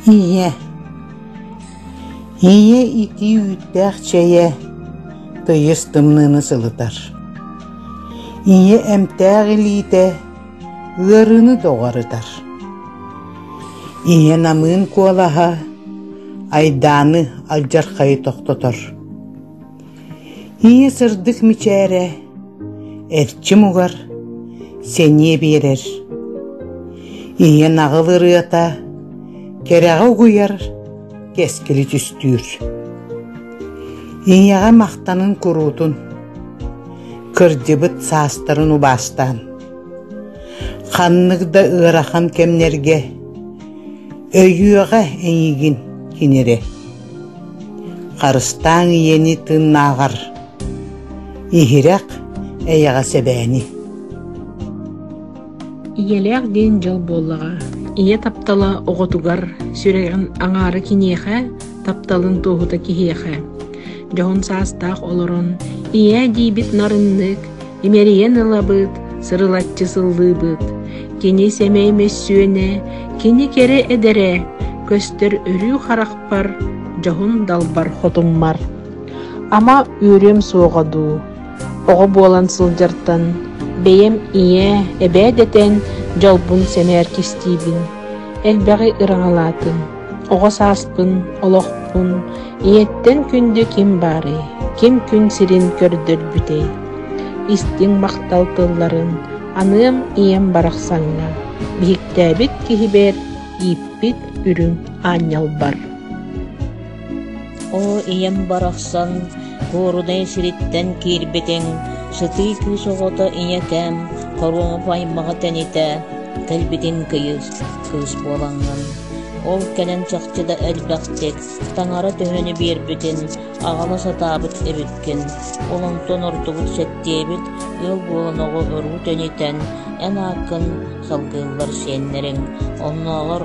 Ийэ Ийэ итии үүттээх чэйэ тыйыс тымныыны сылытар. Ийэ эмтээх илиитэ ыарыыны доҕорутар. Ийэ намыын куолаһа айдааны алдьархайы тохтотор. Ийэ сырдык мичээрэ эрчим угар сэниэ биэрэр. Ийэ наҕыл ырыата кэрэҕэ угуйар кэскили түстүүр. Ийэҕэ махтанын куруутун, кырдьыбыт саастарын убаастаан, ханнык да ыарахан кэмнэргэ өйүөҕэ эйигин кин эрэ. Харыстааҥ ийэни тыыннааҕар, иһирэх, эйэҕэс эбээни. Ийэлээх диэн дьол буоллаҕа. Ийэ таптала оҕотугар, сүрэҕин аҥаара киниэхэ, тапталын туоһута киһиэхэ. Дьоһун саастаах олорон, ийээ диибит нарыннык, имэрийэн ылабыт, сырылаччы сыллыыбыт. Кини сэмэй мөссүөнэ, кини кэрэ эдэрэ, көстөр өрүү харахпар, дьоһун далбар хотуммар. Ама үөрүөм суоҕа дуу. Оҕо буолан сылдьартан бэйэм ийэ, эбээ дэтэн дьолбун сэмээр кистиибин. Элбэҕи ыраҥалаатым. Оҕо сааспын, олохпун ийэттэн күндү ким баарый, ким күн сирин көрдөрбүтэй? Истиҥ махтал тылларын аныам ийэм барахсаҥҥа, биһиктээбит киһибэр ииппит үрүҥ аанньалбар. Оо ийэм барахсан, куорунай сириттэн киирбитиҥ, сытыы кыыс оҕото ийэкээм хоруоп аймаҕа тэнитэ, кэлбитим кыйыс, кыыс буолаҥҥын. Ол кэлэн чахчы да элбэхтик, таҥара төһөнү биэрбитин аҕала сатаабыт эбиккин, олонтон ордубут сэттиэбит ыал буолан оҕо өрүү тэнитэн, эн ааккын салгыыллар сиэннэриҥ, оннооҕор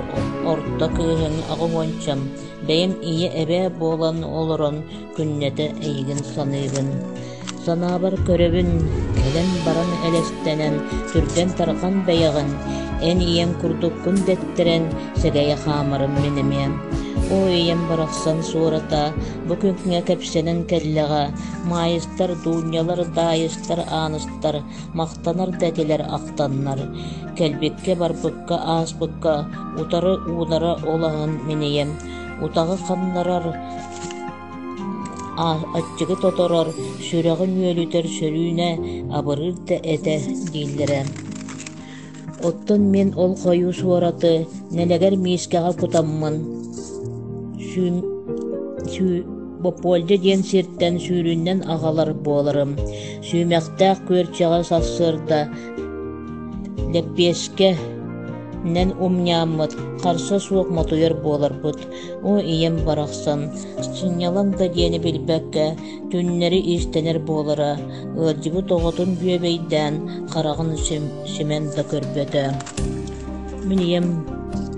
орто кыыһыҥ аҕа уончам, бэйэм ийэ эбээ буолан олорон күннэтэ эйигин-саныыгын, санаабар көрөбүн, кэлэн баран элэстэнэн, түргэн-тарҕан бэйэҕин, эн ийэҥ курдуккун дэттэрэн, сэгэйэ хаамарым мин эмиэ. Оо ийэм барахсан суората бу күҥҥэ кэпсэнэн кэллэҕэ, маайыстар, дуунньалар, даайыстар, ааныстар махтанар да этилэр ахтаннар, кэлбиккэ-барбыкка ааспыкка утары уунара ол аһын минийэн, утаҕы ханнарар Аччыгы тоторор, сүрэҕим үөлүтэр сөрүүнэ абырыыр да этэ дииллэрэ. Оттон мин ол хойуус уораты нэлэгэр миискэҕэ кутаммын, Боппуолдьа диэн сиртэн сүүрүннэн аҕалар буоларым, сүүмэхтээх күөрчэҕэ сарсыарда лэппиэскэнэн умньааммыт, харса суох мотуйар буоларбыт, Оо, ийэм барахсан, сынньалаҥ да диэни билбэккэ, түннэри иистэнэр буолара, ыалдьыбыт оҕотун бүөбэйдээн, хараҕын симэн да көрбөтө. Мин ийэм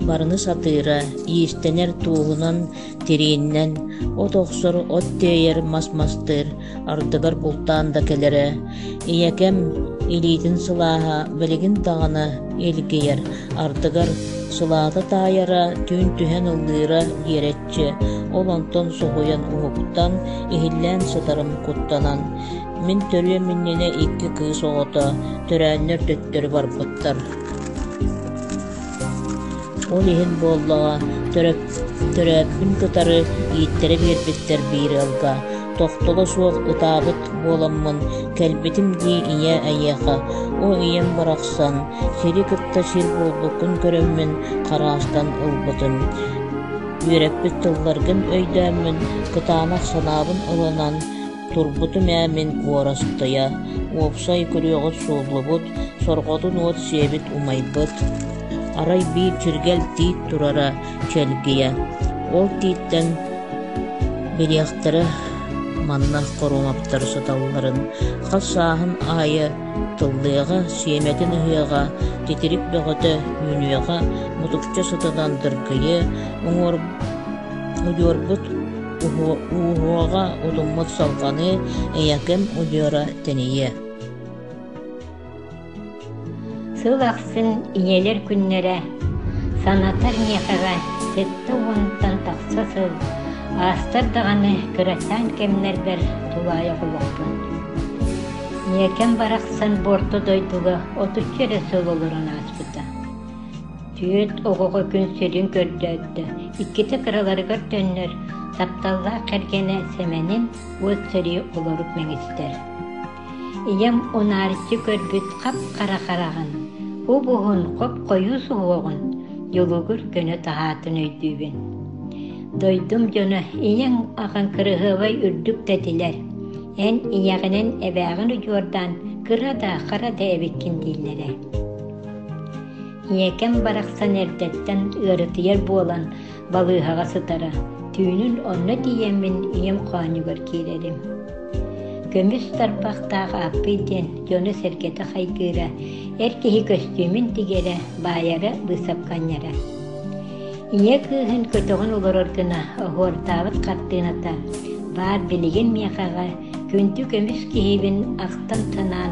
барыны сатыыра, иистэнэр туоһунан, тирииннэн, от охсор, от тиэйэр, мас мастыыр, ардыгар бултаан да кэлэрэ, ийэкэм илиитин сылааһа билигин даҕаны илгийэр, ардыгар сылаата таайара, түүн түһэн ыллыыра иэрэччи, ол онтон соһуйан уһуктан, иһиллээн сытарым куттанан, мин төрүөм иннинэ икки кыыс оҕото, төрээннэр төттөрү барбыттар. Ол иһин буоллаҕа, төрөөппүн кытары ииттэрэ биэрбиттэр биир ыалга, тохтоло суох ытаабыт буоламмын, кэлбитим дии ийэ эйиэхэ, ол ийэм барахсан, сири кытта сир буолбуккун көрөммүн, хараастан ылбытым. Үөрэппит тылларгын өйдөөммүн, кытаанах санаабын ылынан, Турбутум ээ мин уорастыйа, уопсай күрүөҕүт сууллубут, сорҕотун уот сиэбит умайбыт, арай биир чиргэл тиит турара чэлгийэ, ол тииттэн билиэхтэрэ манна хоруумаптары сыталларын, хас сааһын аайы тыллыаҕа, сиэмэтин ыһыаҕа, титирик бөҕөтө үүнүөҕэ, мутукча сытынан дыргыйыа, уҥуорбут Ууһуга утуммут салҕаны Эйэким удьуора тэнийиэ Сыл ахсын ийэлэр күннэрэ санатар миэхэҕэ сэттэ уонтан тахса сыл аастар даҕаны кырачаан кэмнэрбэр тулаайах олохпун. Миэкэм барахсан Борто дойдуга отучча эрэ сыл олорон ааспыта. Түөт оҕоҕо күн сирин көрдөөттө, иккитэ кыраларыгар төннөр, тапталлаах кэргэнэ Сэмэнин уот сэрии олорут мэҥистэр. Ийэм унаарыччы көрбүт хап-хара хараҕын, убуһун хоп-хойуу суһуоҕун дьулугур гына таһаатын өйдүүбүн. Дойдум дьоно ийэҥ аҕаҥ кыраһыабай үрдүк тэтилэр, эн ийэҕинэн эбээҕин удьуордаан кыра да хара да эбиккин дииллэрэ. Ийэкэм барахсан эрдэттэн ыарытыйар буолан балыыһаҕа сытара, түүнүн онно тиийэммин ийэм хоонньугар киирэрим. Көмүс тарбахтаах Ааппый диэн дьоно-сэргэтэ хайгыыра, эр киһи көстүүмүн тигэрэ, баайара, быысапканньара. Ийэ кыыһын көтөҕөн олорор гына оһуордаабыт хартыыната, баар билигин миэхэҕэ Күндү көмүс киһибин ахтан-санаан,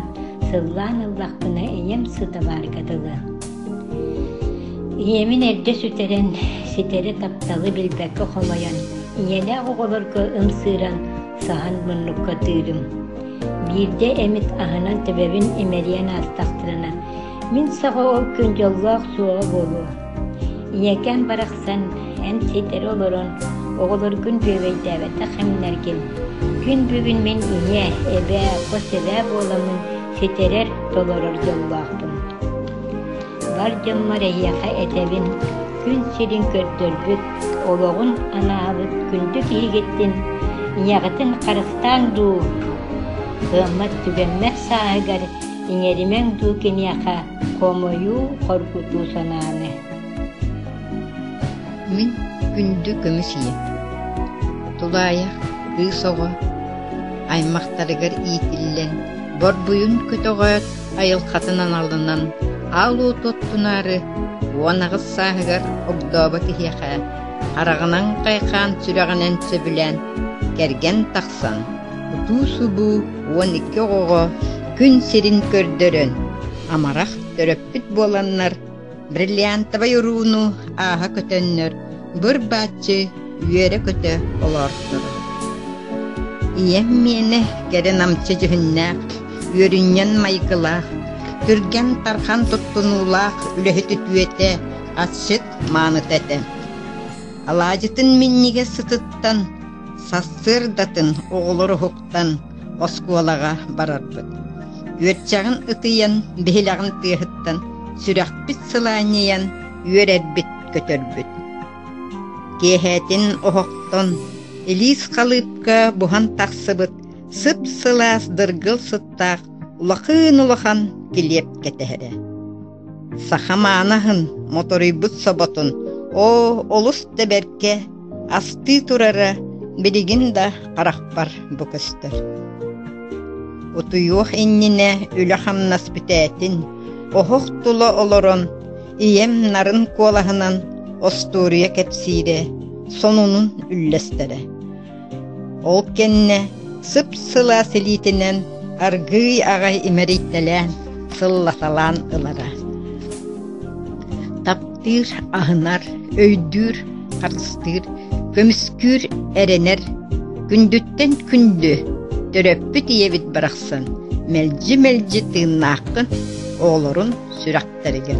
сыллаан ыллахпына ийэм сытабаарга дылы. Ийэмин эрдэ сүтэрэн, ситэри тапталы билбэккэ хомойон, ийэлээх оҕолорго ымсыыран, саһан муннукка тыырым. Биирдэ эмит аһынан төбөбүн имэрийэн аастахтарына, мин саҕа ол күн дьоллоох суоҕа буолуо. ийэкээн барахсан эн ситэри олорон оҕолоргун дьүөгэйдээбэтэх эмнэргин күн бүгүн мин ийэ эбээ хос эбээ буоламмын ситэрэр толорор дьоллоохпун бар дьоммор эһиэхэ этэбин күн сирин көрдөрбүт олоҕун анаабыт күндү киһигиттин ийэҕитин харыстааҥ дуу кыаммат түгэммэт сааһыгар иҥэримэҥ дуу киниэхэ Хомойуу, хоргутуу санааны. Мин күндү көмүс ийэ, тулаайах кыыс оҕо аймахтарыгар иитиллэн, борбуйун көтөҕөөт айылхатын аналынан аал уоту оттунаары уон аҕыс сааһыгар огдообо киһиэхэ хараҕынан хайхаан сүрэҕинэн сөбүлээн кэргэн тахсан утуу-субуу уон икки оҕоҕо күн сирин көрдөрөн, амарах төрөппүт буоланнар, бриллиантовай урууну ааһа көтөннөр, быр-бааччы үөрэ-көтө олоорторо. Ийэм миэнэ кэрэ намчы дьүһүннээх, үөрүнньэн майгылаах, түргэн тархан туттунуулаах үлэһит үтүөтэ, атшыт мааныта этэ. Алаадьытын минньигэс сытыттан Сарсыардатын оҕолор уһуктан оскуолаҕа барарбыт. Үөччэҕин ытыйан, биһилэҕин тыаһыттан сүрэхпит сылаанньыйан, үөрэрбит көтөрбүт. Киэһээтин оһохтон илиис халыыпка буһан тахсыбыт сып-сылаас дыргыл сыттаах улахан улахан килиэп кэтэһэрэ. Саха манаһын, моторуйбут соботун, оо, олус да бэркэ, астыы турара билигин да харахпар бу көстөр. Утуйуох иннинэ үлэ-хамнас бүтээтин, оһох тула олорон, ийэм нарын куолаһынан остуоруйа кэпсиирэ, сонунун үллэстэрэ. Ол кэннэ сып-сыла силиитинэн аргыый аҕай имэрийтэлээн, сыллаталаан ылара. Таптыыр, аһынар, өйдүүр, харыстыыр, көмүскүүр, эрэнэр, күндүттэн күндү төрөппүт ийэбит барахсан мэлдьи-мэлдьи тыыннааххын оҕолорун сүрэхтэригэр.